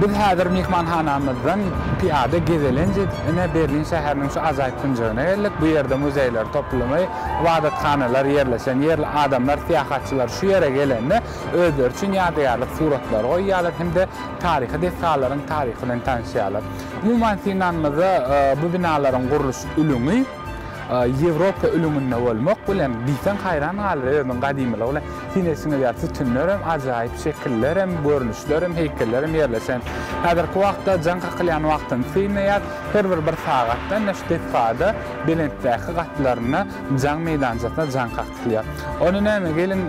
Biz häzir myhmanhanamyzdan pyýada gezelenç edip, ine, Berlin şäheriniň şu ajaýyp künjegine geldik. Bu ýerde muzeýler toplumy, ybadathanalar ýerleşen ýer. Adamlar, syýahatçylar şu ýere gelende, özleri üçin ýadygärlik suratlary goýýarlar hem-de taryhy desgalaryň taryhy bilen tanyşýarlar. Umuman synlanymyzda, bu binalaryň gurluş ülňi, Ýewropa ülňünde bolmak bilen diýseň haýran galar özüniň gadymylygy bilen. Syn etseňiz ýa sütünler hem ajaýyp şekiller hem görnüşler hem heýkeller hem ýerleşen. Häzirki wagtda jaň kakylýan wagtyny synlaýar. Her bir bir sagatda ine şu desgada belentdäki gatlarynda jaň meýdançasynda jaň kakylýar. Ony näme geliň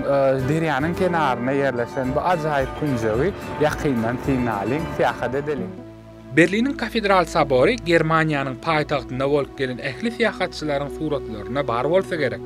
derýanyň kenarynda ýerleşen bu ajaýyp künjegi ýakyndan synlalyň, syýahat edeliň. Berliniň Kafedral Sobory Germaniýanyň paýtagtynda bolup gelen ähli syýahatçylaryň suratlaryna bar bolsa gerek.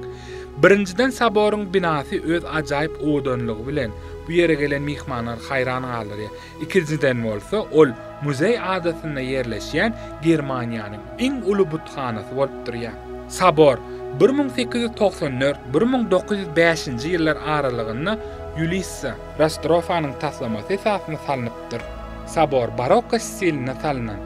Birinjiden Soboryň binasy öz ajaýyp owadanlygy bilen bu ýere gelen myhmanlary haýran galdyrýar. Ikinjiden bolsa ol Muzeý adasynda ýerleşýän Germaniýanyň iň uly buthanasy bolup durýar. Sobor bir müň sekiz ýüz togsan dört, bir müň dokuz ýüz bäşinji ýyllar aralygynda Ýulissa. Rastrofanyň taslamasy esasynda salnypdyr. bolupdyr. Sobor barokko stilinde salnan.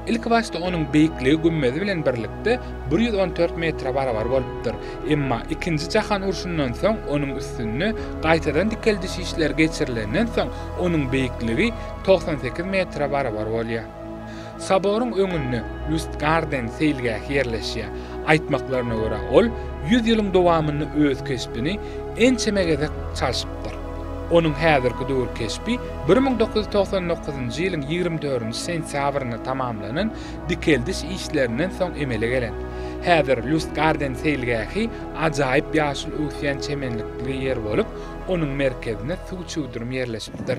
Ilkibaşda onuň beýikligi gümmezi bilen birlikde bir ýüz on dört metre barabar bolupdyr, emma Ikinji jahan urşundan soň onuň üstünde gaýtadan dikeldiş işleri geçirilenden soň onuň beýikligi togsan sekiz metre barabar bolýar. Soboryň öňünde Lustgarden seýilgähi ýerleşýär. Aýtmaklaryna görä, ol ýüz ýylyň dowamynda öz keşbini ençeme gezek çalşypdyr. Onuň häzirki döwür keşbi bir müň dokuz ýüz togsan dokuzynjy ýylyň ýigrimi dördünji sentýabrynda tamamlanan dikeldiş işlerinden soň emele gelen. Häzir Lustgarden seýilgähi ajaýyp ýaşyl öwüsýän çemenlikli ýer bolup, onuň merkezinde suw çüwdürim ýerleşipdir.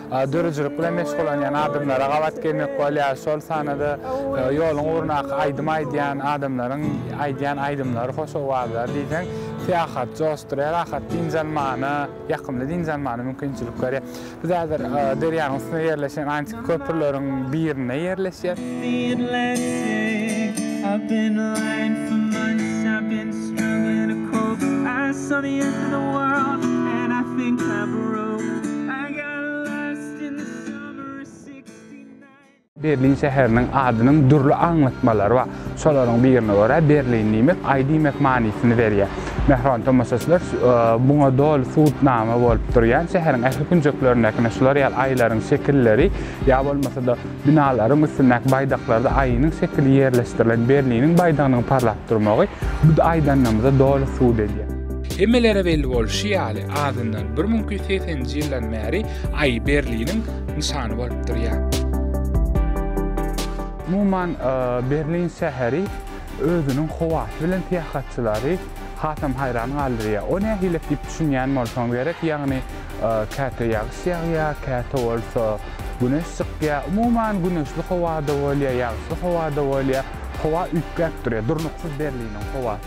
Döredijilik bilen meşgullanýan adamlara gabat gelmek bolýar, şol sanda-da ýoluň ugrundaky aýdym aýdýan adamlaryň aýdýan aýdymlary, hoş owazlary diýseň syýahaty joşdurýar, ahat dynç almana, ýakymly dynç almana mümkinçilik berýär. Biz häzir derýanyň üstünde ýerleşen antiki köprüleriň birinde ýerleşýäs. Berlin şäheriniň adynyň dürli aňlatmalary bar. Şolaryň birine görä, Berlin diýmek, aý diýmek manysyny berýär. Mähriban tomaşaçylar, muňa doly subutnama bolup durýan şäheriň ähli künjeklerindäkine şular ýaly aýlaryň şekilleri ýa bolmasa-da binalaryň üstündäki baýdaklarda aýynyň şekili ýerleşdirilen Berliniň baýdagynyň parlap durmagy bu aýdanymyza doly subut edýär. Hemmelere belli bolşy ýaly, azyndan 1280-nji ýyldan bäri Aý Berliniň nyşany bolup durýar. Umuman, Berlin şäheri özüniň howasy bilen syýahatçylary hasam haýran galdyrýar. O nähilek diýip düşünýän bolsaňyz gerek, ýagny käte ýagyş ýagýar, käte bolsa güneş çykýar. Umuman, güneşli howa-da bolýar, ýagyşly howa-da bolýar. Howa üýtgäp durýar, durnuksyz Berliniň howasy.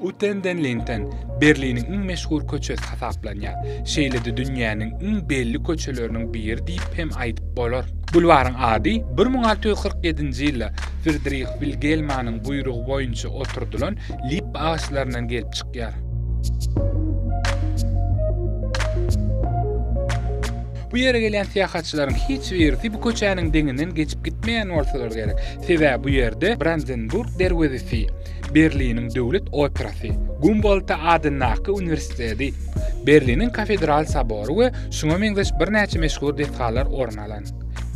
Uten den Linden, Berliniň iň meşhur köçesi hasaplanýar. Şeýle-de dünýäniň iň belli köçeleriniň biri diýip hem aýdyp bolar. Bulwaryň ady bir müň alty ýüz kyrk ýedinji ýylda Fridrih Wilgelmanyň buýrugy boýunça oturdylan lippa agaçlaryndan gelip çykýar. Bu ýere gelýän syýahatçylaryň hiç birisi bu köçäniň deňinden geçip gitmeýän bolsalar gerek, sebäbi bu ýerde Brandenburg derwezesi, Berliniň döwlet operasy, Gumboldta adyndaky uniwersiteti, Berliniň kafedral sobory we şuňa meňzeş birnäçe meşhur desgalar orun alan.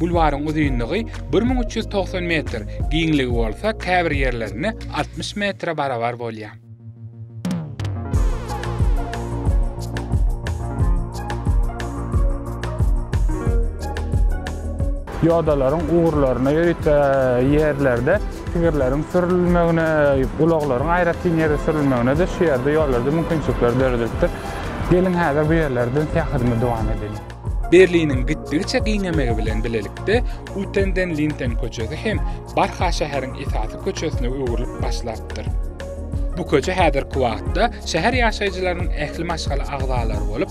Bulwaryň uzynlygy bir müň üç ýüz togsan metr, giňligi bolsa käbir ýerlerinde altmyş metre barabar bolýar. Ýodalaryň ugurlaryna ýörite ýerlerde tigirleriň sürülmegine, ulaglaryň aýratyn ýere sürülmegine-de şu ýerde, ýollarda mümkinçilikler döredilipdir. Geliň, häzir bu ýerlerden syýahatymy dowam edeliň. Berliniň gitdigiçe giňemegi bilen bilelikde Uten den Linden köçesi hem barha şäheriň esasy köçesine öwrülip başlapdyr. Bu köçe häzirki wagtda şäher ýaşaýjylarynyň ähli maşgala agzalary bolup,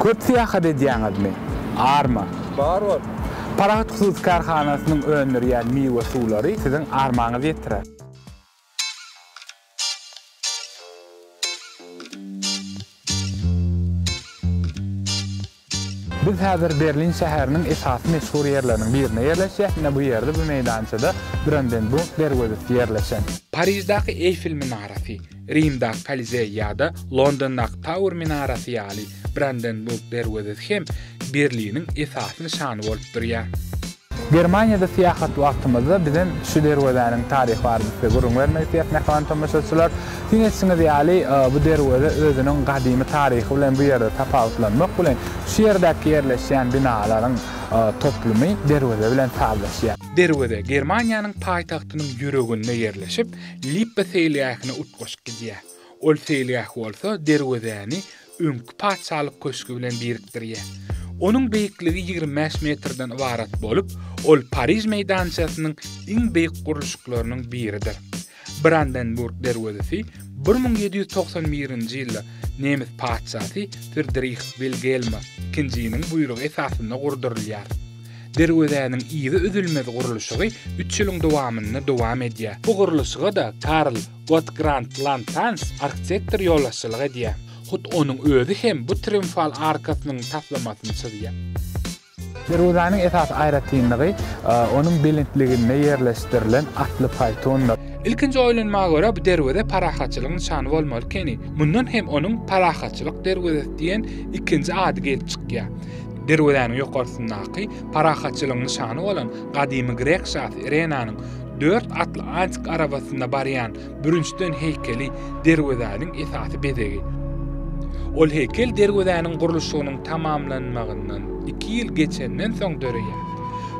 Köp syýahat edýäňizmi? Arma. Bar bor. Parahat hususy kärhanasynyň öndürýän miwe suwlary siziň armaňyzy ýetirer. Biz häzir Berlin şäheriniň esasy meşhur ýerleriniň birinde ýerleşýäs, ine bu ýerde bu meýdançada Brandenburg derwezesi ýerleşen. Pariždaky Eýfel minarasy, Rimdaky Kolizeý ýa-da Londondaky Tauer minarasy ýaly Brandenburg derwezesi hem Berliniň esasy nyşany bolup durýar. Germaniýada syýahat wagtymyzda bizem şu derwezäniň taryhy barada size gürrüň bermek isleýäs, mähriban tomaşaçylar. Syn etişiňiz ýaly, bu derweze özüniň gadymy taryhy bilen bu ýerde tapawutlanmak bilen, şu ýerdäki ýerleşýän binalaryň toplumy derweze bilen sazlaşýar. Derweze Germaniýanyň paýtagtynyň ýüreginde ýerleşip, Lippa seýilgähine utgaşyp gidýär. Ol seýilgäh bolsa derwezäni öňki Patyşalyk köşgi bilen birikdirýär. Onuň beýikligi ýigrimi bäş metrden ybarat bolup, ol Pariž meýdançasynyň iň beýik gurluşyklarynyň biridir. Brandenburg derwezesi bir müň ýedi ýüz togsan birinji ýylda nemes patyşasy Fridrih Wilgelm II-niň buýrugy esasynda gurdurylýar. Derwezäniň yzy üzülmez gurluşygy üç ýylyň dowamynda dowam edýär. Bu gurluşyga-da Karl Gott Grant Lantans arhitektor ýolbaşçylyk edýär. Hut onuň özi hem bu triumfal arkasynyň taslamasyny çyzýar. Derwezäniň esasy aýratynlygy onuň belentliginde ýerleşdirilen atly paýtundyr. Ilkinji oýlanma görä bu derweze parahatçylygyň nyşany bolmaly ekeni. Mundan hem onuň Parahatçylyk derwezesi diýen ikinji ady gelip çykýar. Derwezäniň ýokarsyndaky parahatçylygyň nyşany bolan gadymy grek şasy Irenanyň Dört atly antik arabasynda barýan bürünçden heýkeli derwezäniň esasy bezegi. Ol heýkel derwezäniň gurluşygynyň tamamlanmagyndan iki ýyl geçenden soň döreýär.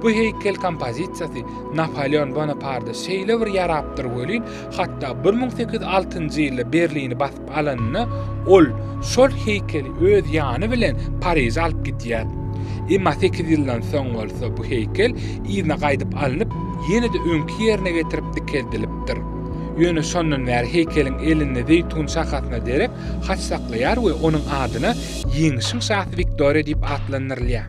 Bu heýkel kompozisiýasy Napoleon Bonaparda şeýle bir ýarapdyr welin, hatda bir müň sekiz ýüz altynjy ýylda Berlini basýar. alanyna, ol şol heýkeli öz ýany bilen Pariže alyp gidýär. Emma sekiz ýyldan soň bolsa bu heýkel yzyna gaýdyp alnyp, ýene-de öňki ýerine getirip dikeldilipdir. Ýöne şondan bäri heýkeliň elinde zeýtun şahasyna derek haç saklaýar we onuň adyna Ýeňişiň şasy Wiktoriýa diýip atlandyrylýar.